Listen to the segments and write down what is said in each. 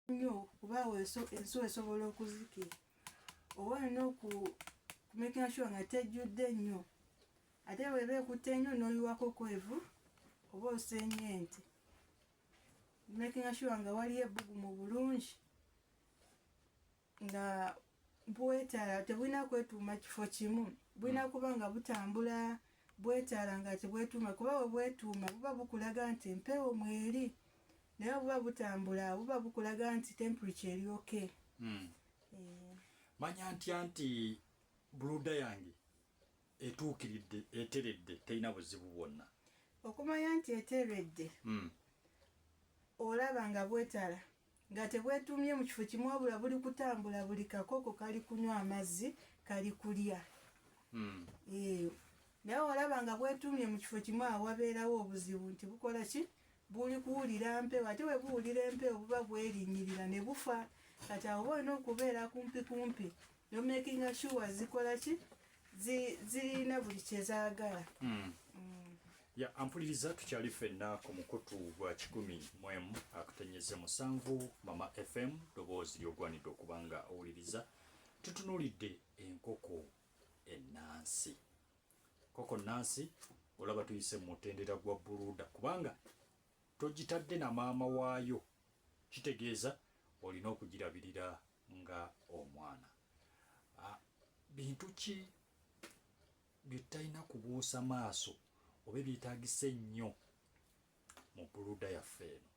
nnyo kuba awo ensuwa esobola okuzikira oba olina okumekera shuwa nga tejjudde nnyo ate bweba ekutte nnyo n'oyiwako kwevu oba osenya ente makinga shuwa nga waliyo ebbugumu bulungi nga bwetala tebulina kwetuuma kifo kimu bulina hmm. kuba nga butambula bwetala nga tebwetuuma kuba webwetuuma buba bukulaga nti empewo mweri naye buba butambula buba bukulaga nti temperature eri oke hmm. eh. manya ntya nti buluda yange etuukiridde eteredde terina buzibu bwonna okumanya nti eteredde hmm. olaba nga bwetala nga tebwetuumye mu kifo kimu wabula buli kutambula buli kakoko kali kunywa amazzi kali kulya hmm. eh, naye olaba nga bwetuumye mu kifo kimu awo wabeerawo obuzibu nti bukola ki buli kuwulira mpewo ate bwe buwulira empewo buba bwerinnyirira ne bufa kati awo oba olina okubeera kumpi kumpi nomakinga sure zikola ki zirina buli kyezagala hmm. hmm. ya ampuliriza tukyali fenna ku mukutu gwa kikumi mwemu akutenyeze musanvu mama fm doboozi lyogwanidde okuba nga owuliriza tutunulidde enkoko enansi koko nansi olaba tuyise mumutendera gwa buluda kubanga togitadde na maama waayo kitegeeza olina okugirabirira nga omwana ah, bintu ki bye tutalina kubuusa maaso oba ebyetagisa ennyo mu buluda yaffe eno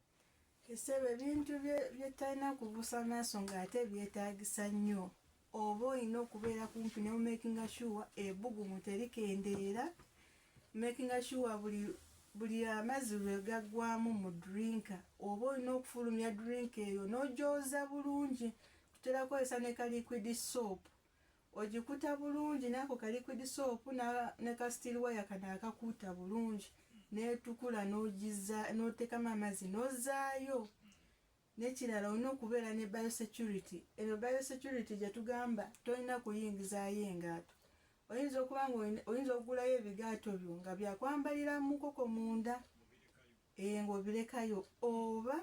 esebo ebintu byetalina kubuusa maaso ng'ate byetagisa nnyo oba olina okubeera kumpi newmakinga sure ebugumu terikendeera Makinga sure buli buli amazzi lwe gaggwamu mu drinka oba olina okufulumya drinka eyo n'ogyoza bulungi tutera kukozesa ne ka liquid soap ogikuta bulungi naako ka liquid soap ne ka steel wire kano akakuuta bulungi n'etukula n'ogizza n'oteekamu amazzi n'ozaayo Nekirala olina okubeera ne biosecurity, eno biosecurity gyetugamba tolina kuyingizaayo engaato, oyinza okuba nga oyinza okugulayo ebigaato byo nga byakwambalira mukoko munda ee nga obirekayo oba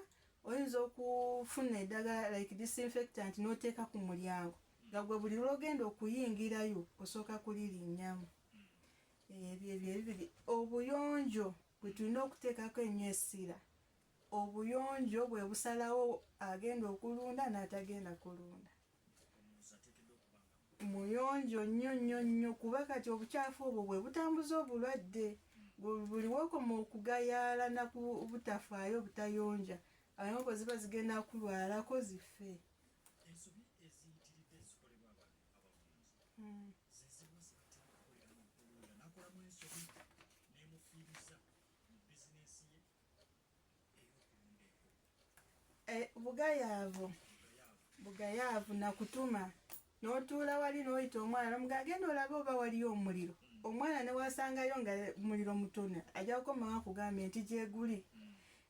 oyinza okufuna edagala like disinfectant noteeka ku mulyango nga gwe buli lwogenda okuyingirayo osooka kulirinyamu ebyo ebyo ebibiri obuyonjo bwetulina okuteekako ennyo essira Obuyonjo bwe busalawo agenda okulunda n'atagenda kulunda. Muyonjo nnyo nnyo nnyo kuba kati obukyafu obwo bwe butambuza obulwadde. Buli w'okoma okugayaala na ku butafaayo obutayonja, abamu ziba zigenda kulwalako zife. Hmm. Eh, bugayaavu bugayaavu nakutuma notuula wali noyita omwana nomuga agenda olabe oba waliyo omuliro omwana newasangayo nga muliro mutono ajja kukomaa kugambye nti gyeguli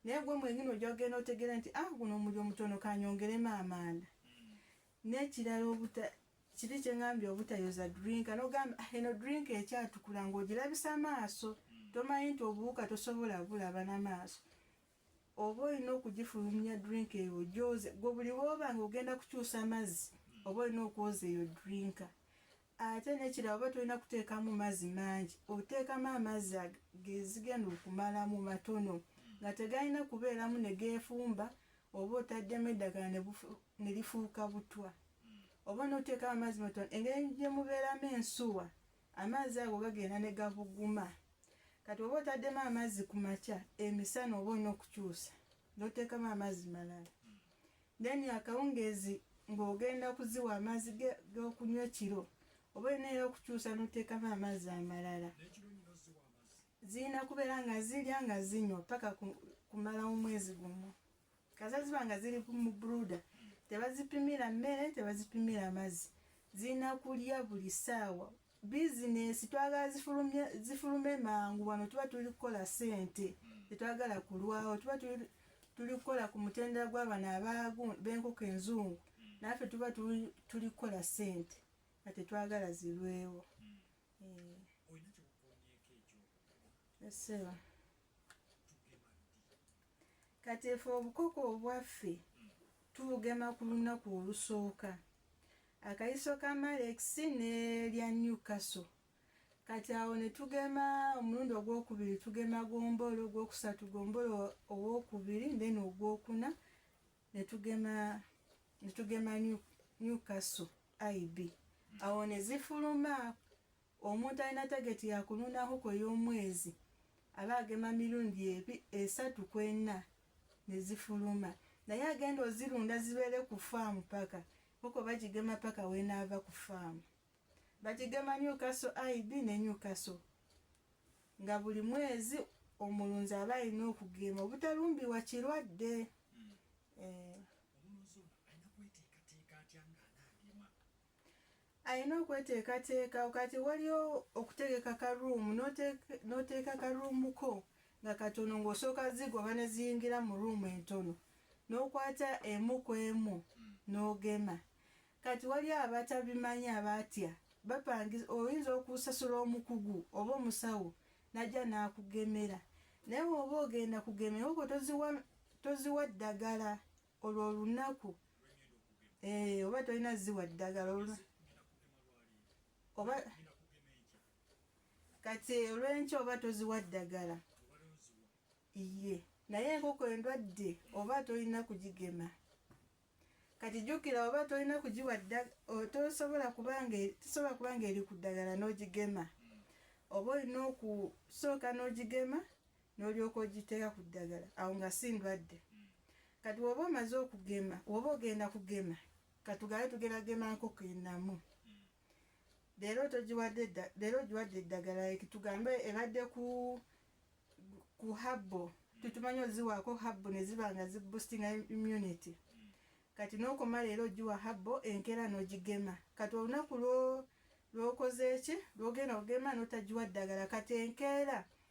naye gwe mwenyini ojja kugenda otegera nti ah guno omuliro mutono kanyongeremu amaanda N'ekirala obuta kiri kye ngambye obutayoza drink anogamba ah, eno drink ekyatukula ng'ogirabisa amaaso hmm. tomanyi nti obuwuka tosobola bulaba n'amaaso oba olina okugifulumya drink eyo gyoze gwe buli wooba nga ogenda kukyusa amazzi hmm. oba olina okwoza eyo drinka Ate nekirala oba tolina kuteekamu mazzi mangi, oteekamu amazzi gezigenda okumalamu matono nga tegalina kubeeramu ne geefumba oba otaddemu eddagala ne lifuuka butwa oba n'oteekamu amazzi matono. Engeri gye mubeeramu ensuwa amazzi ago gagenda ne gabuguma. Kati oba otaddemu amazzi ku makya, emisana oba olina okukyusa n'oteekamu amazzi malala. Then akawungeezi ng'ogenda kuziwa amazzi g'okunywa ekiro oba olina era okukyusa n'oteekamu amazzi amalala. Zirina kubeera nga zirya nga zinywa paka kumala omwezi gumu. Kasa ziba nga ziri mu bruda, tebazipimira mmere, tebazipimira mazzi. Zirina kulya buli ssaawa. bizinesi twagala zifulumye zifulume mangu wano tuba tuli kukola sente tetwagala kulwawo tuba tuli tuli kukola ku mutendera gw'abana abaagu b'enkoko enzungu naffe tuba tuli tuli kukola sente nga tetwagala zirwewo Eh, olina kyokukuumyeko ekyo essebo tugema ddi kati efe obukoko obwaffe tubugema ku lunaku olusooka akayiso ka Malex ne lya Newcastle kati awo ne tugema omulundi ogwokubiri tugema gombolo ogwokusatu gombolo owokubiri then ogwokuna ne tugema ne tugema Newcastle IB awo ne zifuluma Omuntu alina tageti ya kulunda nkoko ey'omwezi aba agema mirundi ebi, esatu ku ena ne zifuluma. Naye agenda ozirunda zibeere ku faamu paka, nkoko bagigema paka w'enaava ku faamu. Bagigema Newcastle IB ne Newcastle nga buli mwezi omulunzi aba alina okugema obutalumbiwa kirwadde. Hmm. Eh. Omulunzi ono alina kweteekateeka atya ng'anaagema? alina okweteekateeka kati waliwo okutegeka ka ruumu n'oteeka ka ruumu ko nga katono ng'osooka zigoba ne ziyingira mu ruumu entono n'okwata emu ku emu n'ogema kati waliwo abatabimanyi abatya bapangiza oyinza okusasula omukugu oba omusawo najja n'akugemera naye oba ogenda kugemera oko toziwa ddagala olwo olunaku eh, oba tolina ziwa ddagala oba kati olwenkya oba toziwa ddagala iye naye enkoko endwadde oba tolina kugigema kati jjukira oba tolina kugiwa tosobola kubanga tosobola kubanga eri ku ddagala n'ogigema oba olina okusooka n'ogigema n'olyoka ogiteeka ku ddagala awo nga si ndwadde kati woba omaze okugema woba ogenda kugema katugabe tugenda gema nkoko enamu leero togiwadde leero ogiwadde eddagala ekitugambe ebadde ku ku habbo tutumanyi oziwaako habbo ne ziba nga ziboostinga immunity kati n'okoma leero ogiwa habbo enkeera n'ogigema kati olunaku lwokoze eki lwogenda ogema n'otagiwa ddagala kati enkeera